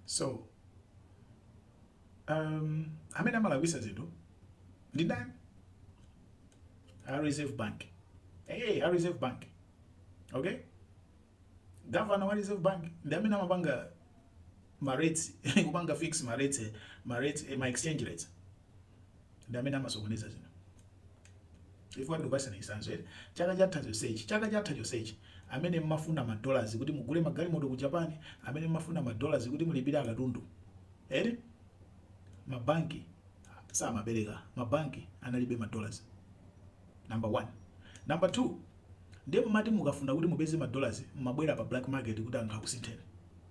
so um, amene amalakwisa zinthu ndi ndani a reserve bank ee, a reserve bank okay governor wa reserve bank ndi amene amapanga ma rates kupanga fix ma rates ma rates eh, ma exchange rates ndi amene amasokoneza zinthu chifukwa ndikupatsani chitsanzo eti chaka chatha chonsechi chaka chatha chonsechi amene mmafuna ma dollars kuti mugule magalimoto ku Japan amene mmafuna ma dollars kuti mulipire akatundu eti mabanki samapereka mabanki analibe ma dollars number one number two ndiye mmati mukafuna kuti mupeze ma dollars mmabwera pa black market kuti anthu akusintheni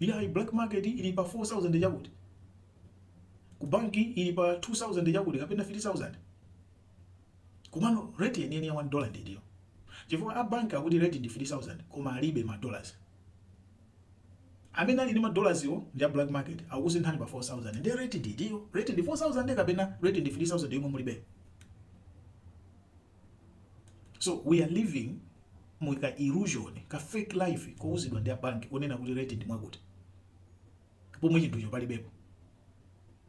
Iyayi, black market ili pa 4000 chakuti, ku bank ili pa 2000 chakuti kapena 3000. Komano rate yeniyeni ya 1 dollar ndi itiyo? Chifukwa a bank akuti rate ndi 3000 koma alibe ma dollars. Amene ali ndi ma dollars wo ndi a black market akukusinthani pa 4000 ndiye rate ndi itiyo? Rate ndi 4000 kapena rate ndi 3000 yomwe mulibeyo? so we are living mu ka illusion ka fake life kouzidwa ndi abanki kunena kuti rate ndi mwakuti pomwe chinthucho palibepo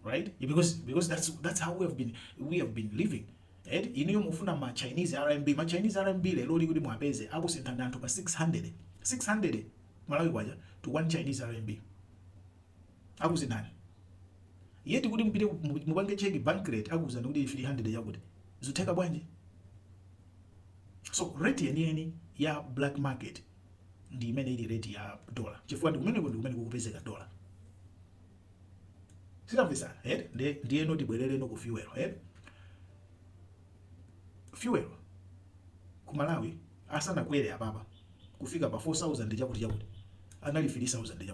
right because because that's that's how we have been we have been living eti inuyo mufuna ma chinese rmb ma chinese rmb leroli kuti mwapeze akusinthani anthu pa 600 600 malawi kwacha to one chinese rmb Akuuzani yet kuti mupite mupange check bank rate akuuzani kuti 300 chakuti zitheka bwanji? So rate yeniyeni ya black market ndi imene ili rate ya dollar chifukwa ndi kumeneko ndi kumene kukupezeka dollar. Tikumvetsana eh? Ndiye ndiyeno tibwerereno ku fuel eh? Fuel ku Malawi asanakwere apapa kufika pa 4000 chakuti chakuti anali 3000 chakuti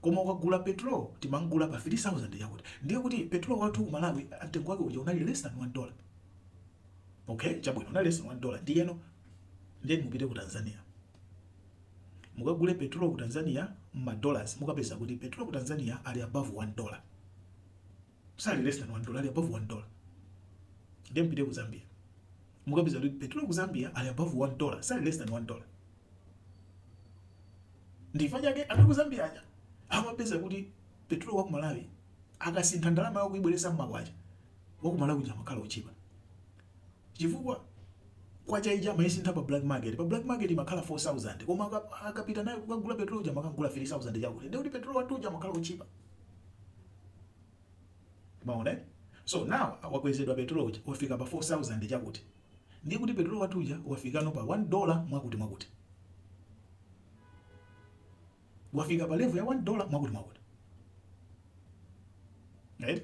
koma tikagula petrol timamgula pa 3000 chakuti ndiye kuti petrol wathu ku Malawi mtengo wake uja unali less than 1 dollar okay chabwino unali less than 1 dollar ndiyeno ndiye mupite ku Tanzania mukagule petrol ku Tanzania mma dollars mukapeza kuti petrol ku Tanzania ali above 1 dollar sali less than 1 dollar ali above 1 dollar ndiye mpite ku zambia mukapeza kuti petrol ku zambia ali above 1 dollar sali less than 1 dollar ndi chifukwa chake anthu ku zambia aja amapeza kuti petrol wa ku malawi akasintha ndalama yawo kuibweretsa mmakwacha wa ku malawi uja amakhala otchipa chifukwa kwacha ija amayisintha pa black market pa black market imakhala 4000 koma aka- akapita nayo kukagula petrol uja amakagula 3000 chakuti ndiye kuti petrol wathu uja amakhala otchipa Mwaona eh? So now wakwezedwa petrol uja wafika pa 4000 chakuti. Ndiye kuti petrol wathu uja wafikano pa 1 dollar mwakuti mwakuti. Wafika pa level ya 1 dollar mwakuti mwakuti. Right?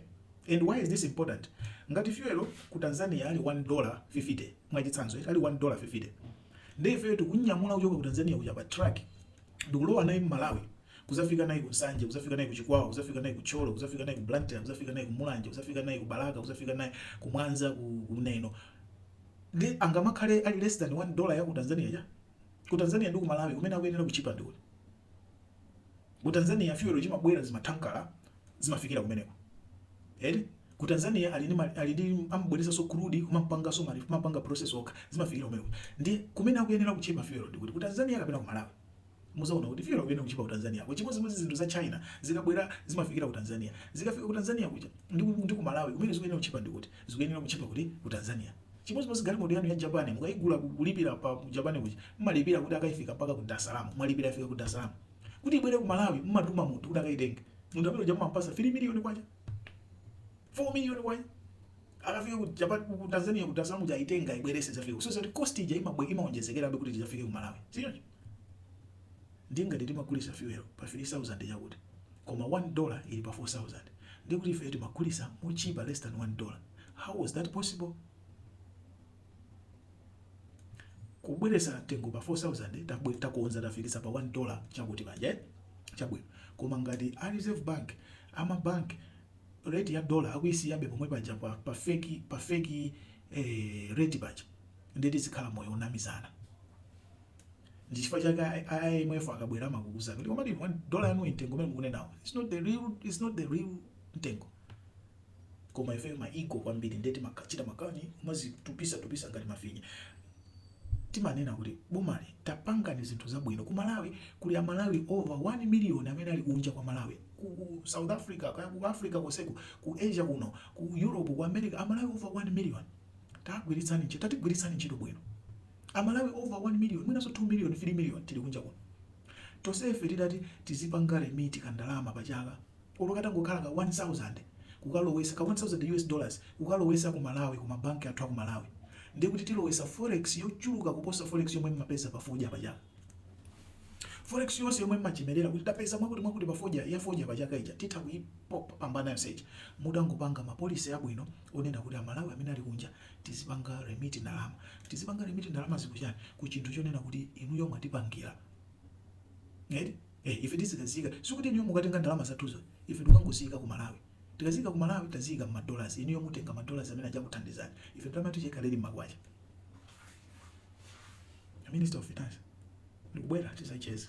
And why is this important? Ngati fuel ku Tanzania ali 1 dollar 50 mwachitsanzo, ali 1 dollar 50. Ndiye ife tikunyamula kuchoka ku Tanzania kuja pa truck ndikulowa naye m'Malawi kuzafika naye ku Nsanje kuzafika naye ku Chikwawa kuzafika naye ku Thyolo kuzafika naye ku Blantyre kuzafika naye ku Mulanje kuzafika naye ku Balaka kuzafika naye ku Mwanza ku ku Neno nde angamakhale ali less than 1 dollar ya ku Tanzania ija ku Tanzania ndi ku Malawi kumene akuyenera kutchipa ndi kuti ku Tanzania fuel akamabwera zimathankala zimafikira kumeneko eti Ku Tanzania ali ndi ma ali ndi amabweresanso crude kumampanganso ma kumampanga process okha zimafikira kumene kuja. Ndiye kumene akuyenera kutchipa fuel ndi kuti ku Tanzania kapena ku Malawi? Muzaona kuti fuel akuyenera kutchipa ku Tanzania ko. Chimodzimodzi zinthu za China zikabwera zimafikira ku Tanzania. Zikafika ku Tanzania kuja ndi ku ndi ku Malawi kumene zikuyenera kutchipa ndi kuti? Zikuyenera kutchipa kuti? Ku Tanzania. Chimodzimodzi galimoto yanu ya Japan mukaigula ku kulipira pa ku Japan kuja mumalipira kuti akaifikitse mpaka ku Dar es Salaam mwalipira yafika ku Dar es Salaam. Kuti ibwere ku Malawi mumatuma munthu kuti akaitenge. Munthu amene uja mumampatsa 3 million kwacha. 4 million kwa akafika ku Japan ku Tanzania ku Tanzania muja aitenge aibwerese zafika so zati cost ija imabwe imawonjezekera kuti izafike ku Malawi so ndiye ngati timagulisa fuel pa 3000 yakuti koma 1 dollar ili pa 4000 ndiye kuti ife timagulisa motchipa less than 1 dollar how was that possible kubweresa mtengo pa 4000 tabwe takonza tafikisa pa 1 dollar chakuti paja eh? chabwino koma ngati a reserve bank ama bank rate ya dollar akuisiyabe pomwe paja pa, pa fake pa fake eh, rate paja nde tizikhala moyo wonamizana ndi chifukwa chake I- IMF akabwera amakuuza kuti komatu one dollar yanu mtengo umene mukunenawo it's not the real it's not the real mtengo koma ifeyo ma ego kwambiri ndiye timachita makani kumazitupisa tupisa ngati mafinya timanena kuti bomali tapangani zinthu zabwino ku Malawi kuli amalawi over 1 million amene ali kunja kwa Malawi ku ku South Africa kaya ku Africa konseko ku Asia kuno ku Europe ku America amalawi over 1 million tagwiritsani ntchito tatigwiritsani ntchito bwino amalawi over 1 million mwinanso 2 million 3 million tili kunja kuno tonsefe titati tizipanga remit kandalama pachaka olo katangokhala ka 1000 kukalowesa ka 1000 US dollars kukalowesa ku Malawi ku ma bank athu aku Malawi ndiye kuti tilowesa forex yochuluka kuposa forex yomwe mmapeza pa fodya pa chaka. Forex yonse yomwe mmachemelera kuti tapeza mwakuti mwakuti pa fodya ya fodya pa chaka ija titha kuipambana yonse ija mutangopanga ma policy abwino onena kuti a Malawi amene ali kunja tizipanga remit ndalama. Tizipanga remit ndalamazi ku chani? Ku chinthu chonena kuti inuyo mwatipangila eti? ee ife tizikaziika sikuti inuyo mukatenga ndalama zathuzo ife tikangoziika ku malawi tikaziika ku malawi taziika mma dollars inuyo mutenga ma dollars amene aja akuthandizeni ife ndalama yathu ija ikhale ili mmakwacha a minister of finance ndikubwera tizacheza